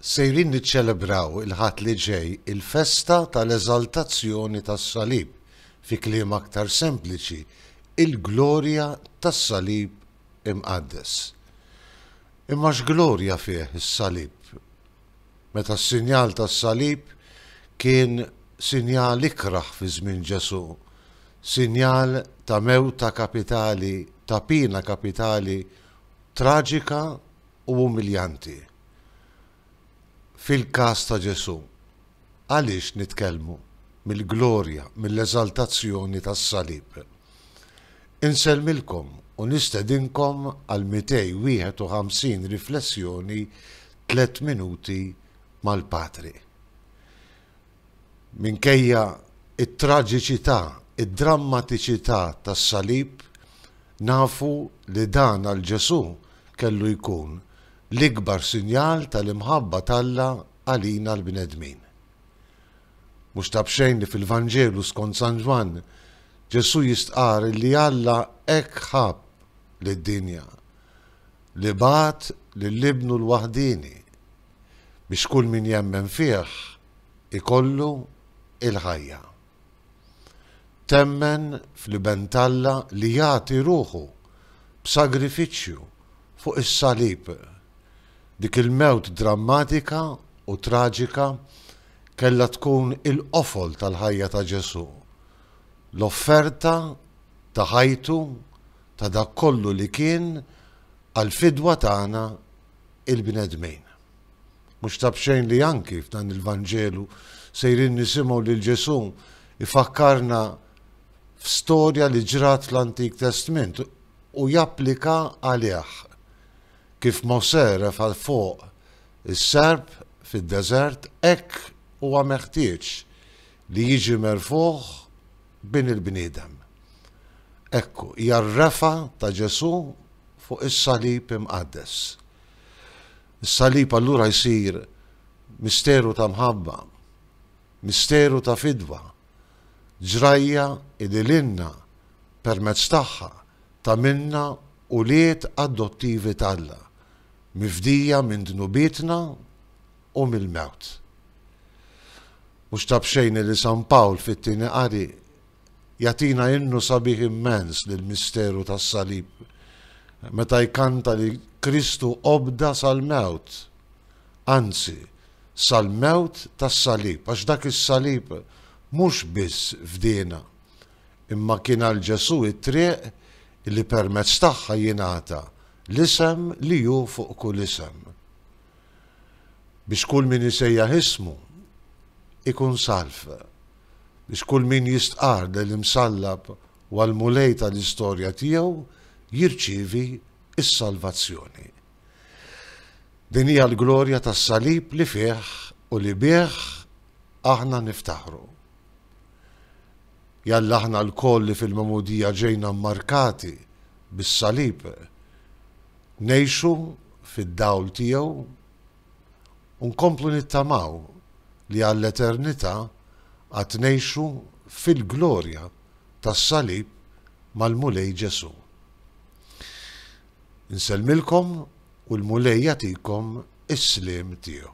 Sejrin niċċelebraw il-Ħadd li ġej il-festa tal-Eżaltazzjoni tas-Salib, fi kliem aktar sempliċi, il-glorja tas-Salib Imqaddes. Imma x'glorja fih is-Salib, meta s-sinjal tas-Salib kien sinjal ikrah fi żmien Ġesù, sinjal ta' mewta kapitali, ta' piena kapitali, traġika u umiljanti fil-każ ta' Ġesù, għaliex nitkellmu mill-glorja, mill-eżaltazzjoni tas-salib? Insellmilkom u nistedinkom għal 251 riflessjoni Tliet Minuti mal-Patri. Minkejja t-traġiċità, id-drammatiċità tas-Salib, nafu li dan għal Ġesù kellu jkun l-ikbar sinjal tal-imħabba t'Alla għalina l-bnedmin. Mhux ta' b'xejn li fil-Vanġelu skont San Ġwann, Ġesù jistqarr li Alla hekk ħabb lid-dinja, li bagħat lil Ibnu l-waħdieni, biex kull min jemmen fih ikollu il-ħajja. Temmen fl-Iben t'Alla li jagħti ruħu b'sagrifiċċju fuq is-salib. Dik il-mewt drammatika u traġika kellha tkun il-qofol tal-ħajja ta' Ġesù, l-offerta ta' ħajtu ta' dak kollu li kien għall-fidwa tagħna il-bnedmin. Mhux ta' b'xejn li anki f'dan il-Vanġelu sejrin nisimgħu lil Ġesù jfakkarna f'storja li ġrat fl-Antik Testment u japplika għalih. Kif Mosè refa' 'l fuq is-serp fid-deżert, hekk huwa meħtieġ li jiġi merfugħ Bin il-bniedem. Ekku, hija r-refgħa ta' Ġesù fuq is-salib imqaddes. Is-salib allura jsir misteru ta' mħabba, misteru ta' fidwa, ġrajja li lilna, permezz tagħha, tagħmilna ulied adottivi t'Alla, mifdija minn dnubietna, u mill-mewt. Mhux ta' b'xejn li San Pawl fit-Tieni Qari jagħtina innu sabiħ immens lill-misteru tas-Salib meta jkanta li Kristu obda sal-mewt, anzi, sal-mewt tas-Salib, għax dak is-Salib mhux biss fdiena, imma kien għal Ġesù t-triq li permezz tagħha jingħata l-isem li hu fuq kull isem. biex kull min isejjaħ ismu jkun salv, biex kull min jistqarr lill-Imsallab u għall-Mulej tal-istorja tiegħu jirċievi s-salvazzjoni. Din hija l-glorja tas-Salib li fih u li bih aħna niftaħru. Jalla aħna lkoll li fil-Magħmudija ġejna mmarkati bis-Salib, Ngħixu fid-dawl tiegħu u nkomplu nittamaw li għall-eternità għad ngħixu fil-glorja tas-Salib mal-Mulej Ġesù. Insellmilkom u l-Mulej jagħtikom is-sliem tiegħu.